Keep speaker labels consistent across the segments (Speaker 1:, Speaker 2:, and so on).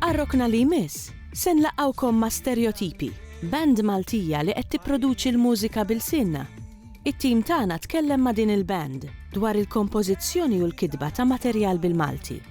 Speaker 1: Għar-rokna li jmiss, se nlaqgħukom ma' Stereotipi, band Maltija li qed tipproduċi l-mużika b'ilsienna. It-tim tagħna tkellem ma' din il-band dwar il-kompożizzjoni u l-kitba ta' materjal bil-Malti.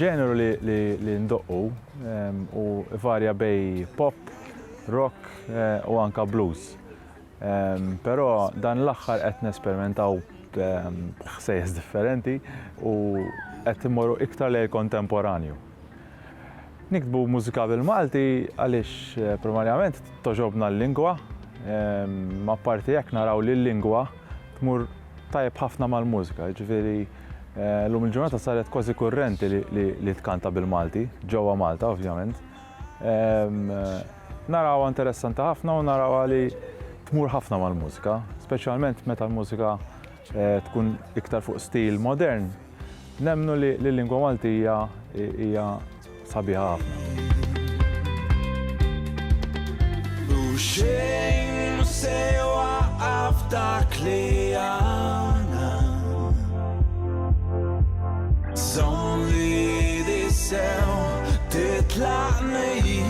Speaker 2: Ġeneru li ndoqqu u varja bej pop, rock u anka blues. Però dan l-aħħar qed nesperimentaw b'ħsejjes differenti u qed immorru iktar lejn il-kontemporanju. Niktbu mużika bil-Malti għaliex eh, primarjament toġobna l-lingwa, ehm, ma parti hekk naraw li l-lingwa Tmur tajjeb ħafna mal-mużika, jiġifieri llum il-ġurnata saret kważi kurrenti li tkanta bil-Malti, ġewwa Malta ovvjament. Narawha interessanti ħafna u narawha li tmur ħafna mal-mużika, speċjalment meta l-mużika tkun iktar fuq stil modern. Nemmnu li l-lingwa Maltija hija sabiħa ħafna.
Speaker 3: U xejn mhu se jwaqqaf dak li għandna. Żomm l-idi sew titlaq nehhi.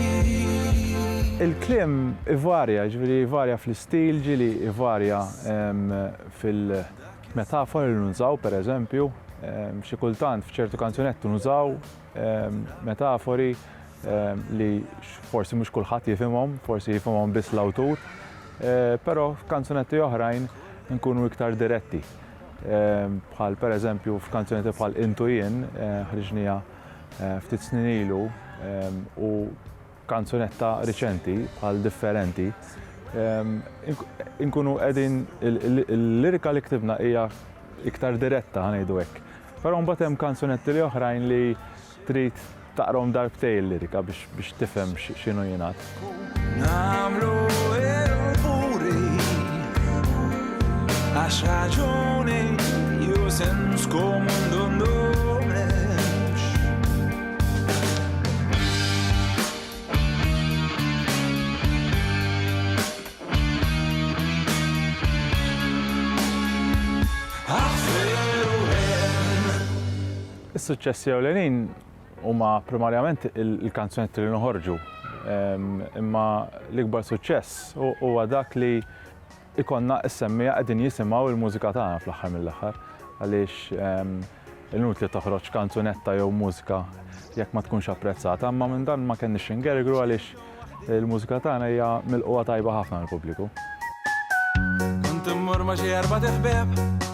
Speaker 2: Il-kliem ivarja, jiġifieri jvarja fl-istil, ġieli jvarja fil-, Metafori li nużaw, per eżempju, xi kultant f'ċertu kanzunetti nużaw metafori li forsi mhux kulħadd jifhimhom, forsi jifhimhom biss l-awtur, però f'kanzunetti oħrajn nkunu iktar diretti. Bħal per eżempju f'kanzunetti bħal Intu Jien ħriġnija ftit snin ilu u kanzunetta riċenti bħal differenti inkunu qegħdin il-lirika li ktibna hija iktar diretta ngħidu hekk. Però mbagħad hemm kanzunetti li oħrajn li trid taqrom darbtej il-lirika biex tifhem x'inhu jingħad. Nagħmlu
Speaker 3: il-furi għax raġuni ju sens komun
Speaker 2: Is-suċċessi ewlenin huma primarjament il-kanzunetti li noħorġu. Imma l-ikbar suċċess huwa dak li ikollna s-semmiegħa qegħdin jisimgħu l-mużika tagħna fl-aħħar mill-aħħar għaliex inutli toħroġ kanzunetta jew mużika jekk ma tkunx apprezzata, imma minn dan ma kenniex ingergru għaliex il-mużika tagħna hija milqugħa tajba ħafna mill-pubbliku.
Speaker 3: Kont immur ma' xi erbat iħbieb.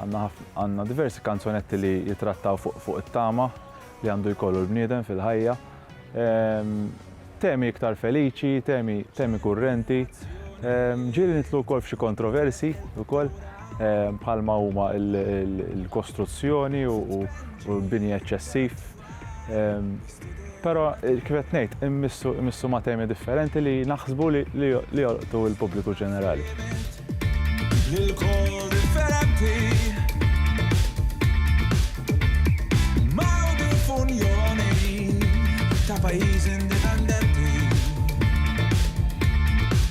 Speaker 2: Għandna diversi kanzunetti li jitrattaw fuq it-tama li għandu jkollu l-bniedem fil-ħajja. Ehm, temi iktar feliċi, temi, temi kurrenti. Ehm, ġieli nitlu wkoll f'xi kontroversi wkoll ehm, bħalma huma l-kostruzzjoni u l-bini eċċessiv. Però kif qed ngħid, immissu immissu ma' temi differenti li naħsbu li li jolqtu l-pubbliku ġenerali.